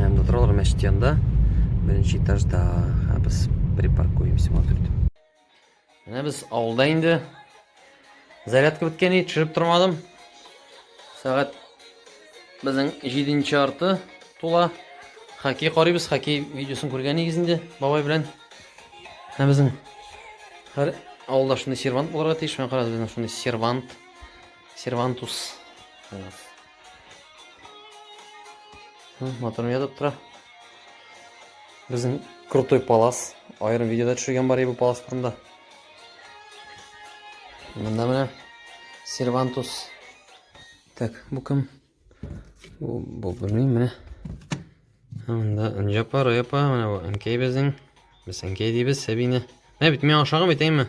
Әм торалар мәчет янында, беренче этажда. Ә без припаркуемся вот тут. Менә без авылда инде. Зарядка беткән иде, төшереп тормадым. Сәгать безнең 7 арты тула. Хоккей карыйбыз, хоккей видеосын күргән идегез инде бабай белән. Ә безнең һәр авылда шундый сервант булырга тиеш. Мен карагыз, безнең шундый сервант. Сервантус. Моторым ятып тора. Безнең крутой палас. Айрым видеода төшергән бар бу палас турында. Монда менә сервантус. Так, бу кем? Бу бу белмим менә. Монда Нҗапар апа, менә бу Әнкәй безнең. Без Әнкәй дибез Сәбине. Менә бит мин ашаган бит, әйме?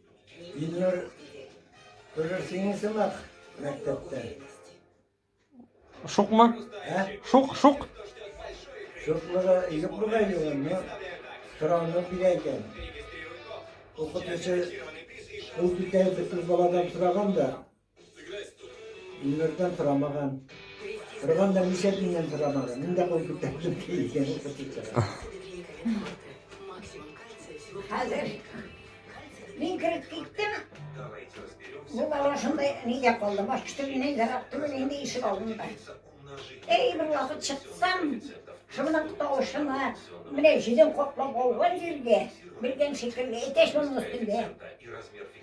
Ильнур, күрерсең сымак мәктәптә. Шукмы? Ә? Шук, шук. Шуклыгы юк була югын, но сорауны бирә икән. Укытучы ул битәр бит баладан сораган да, Өйләрдә сорамаган. Торганда ничә тиеннән сорамаган. Мин дә куеп китәм. Хәзер мин кереп киттем. Бу бала шундай нигә калды. Башка төрле ярап түгел инде ишек алдында. Эй, бер вакыт чыксам, шуның тавышына менә җилен каплап алган җиргә, белгән шикелле, әтәч булмас инде.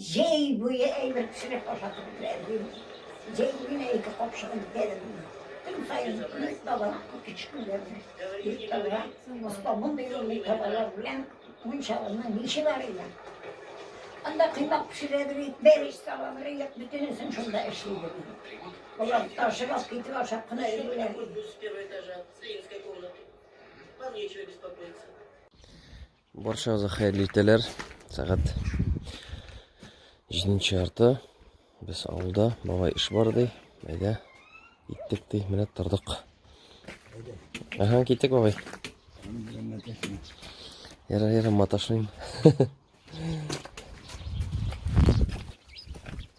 Җәй буе әйбер пешереп ашатып бирә идем. Җәй генә ике капчыгын бетердем. Көн саен ир табалак күк ишкүләрне. Ир табалак, оста мондый мондый табалар белән мунчалының ниче бар иде. Анда кыймак пешерәдер ик, бәреш салалар ик, бөтенесен шунда эшлидер. Болар ташып алып китеп ашап кына йөриләр. Баршаңызга хәерле иртәләр. Сәгать 7 ярты. Без авылда, бабай эш бар ди. Әйдә. Иттек ди, менә тордык. Ага, киттек бабай. Яра, яра, маташмыйм.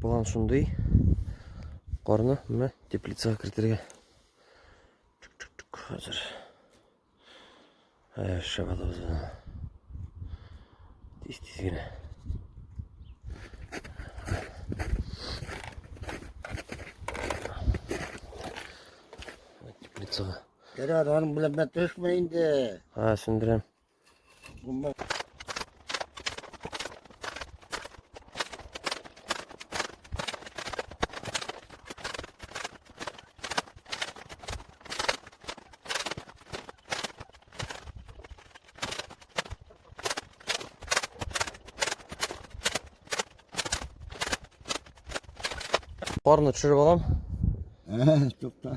план шундый карны менә теплицага кертергә хәзер шәп атабыз тиз тиз генә теплицага Керәр, аның белән бә төшмә инде. Ха, сүндерәм. Бумба. Парны төшереп алам. Ә, тукта.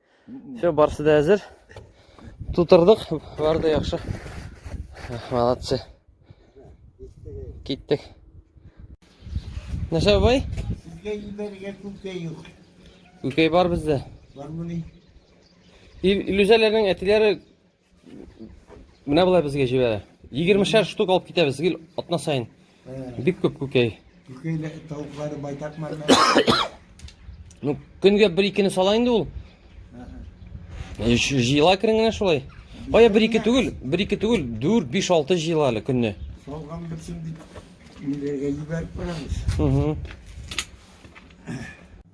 Все, барсы да әзер. Тутырдык, бар да яхшы. Молодцы. Киттек. Нәрсә бай? Сезгә ибәргә күкәй юк. Күкәй бар бездә. Бар мыни? Илүзәләрнең әтиләре Менә болай безгә җибәрә. 20 шәр штук алып китәбез гел атна сайын. Бик күп күкәй. Күкәй тавыклары байтак мәрмә. Ну, көнгә бер икене сала инде ул. Җыела керен генә шулай. Кая бер ике түгел, бер ике түгел, 4 5 6 җыела әле көнне. Салган битсен дип ниләргә җибәреп барабыз.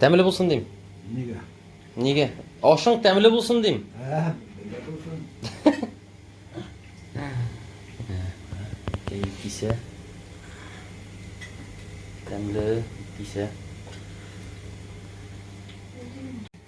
Тәмле булсын дим. Нигә? Нигә? Ашың тәмле булсын дим. Ә, нигә булсын? Кәй кисә. Тәмле кисә.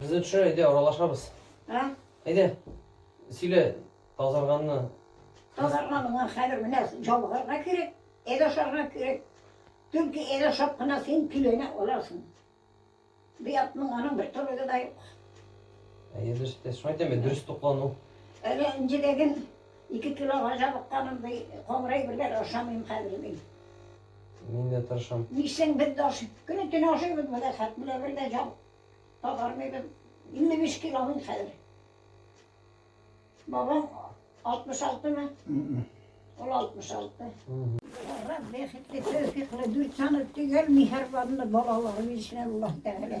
Без дә төшә, әйдә, аралашабыз. Ә? Әйдә, сөйлә, тазарганны. Тазарган миңа хәзер менә җабыгарга кирәк, әйдә ашарга кирәк. Төнки әйдә ашап кына син киленә аласың. Бу ятның аның бер торыгы да юк. Әйдә, дөрес әйтәсең. Шуңа әйтәм, дөрес туклану. Әле инҗедәген ике килога җабыкканым, ди, камырай бергә ашамыйм хәзер, ди. Мин дә тырышам. Исең без дә ашыйбыз. Көне төне ашыйбыз бу рәхәт белән бер дә җан тагармыйбыз. 55 кило мин хәзер. Бабам 66 мы? Ул 66. Бара бәхетле, тәүфиклы, дүрт саны төгәл миһәрбанлы балалар бирсен Аллаһ Тәгалә.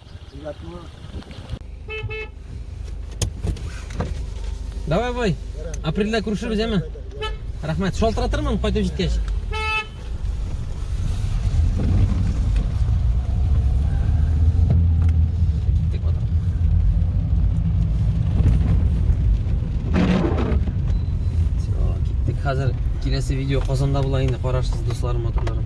Давай, бой. Апрельдә күрешербез, әме? Рәхмәт. Шалтыратырмын кайтып җиткәч. Хәзер киләсе видео Казанда була инде, карарсыз дусларым, матурларым.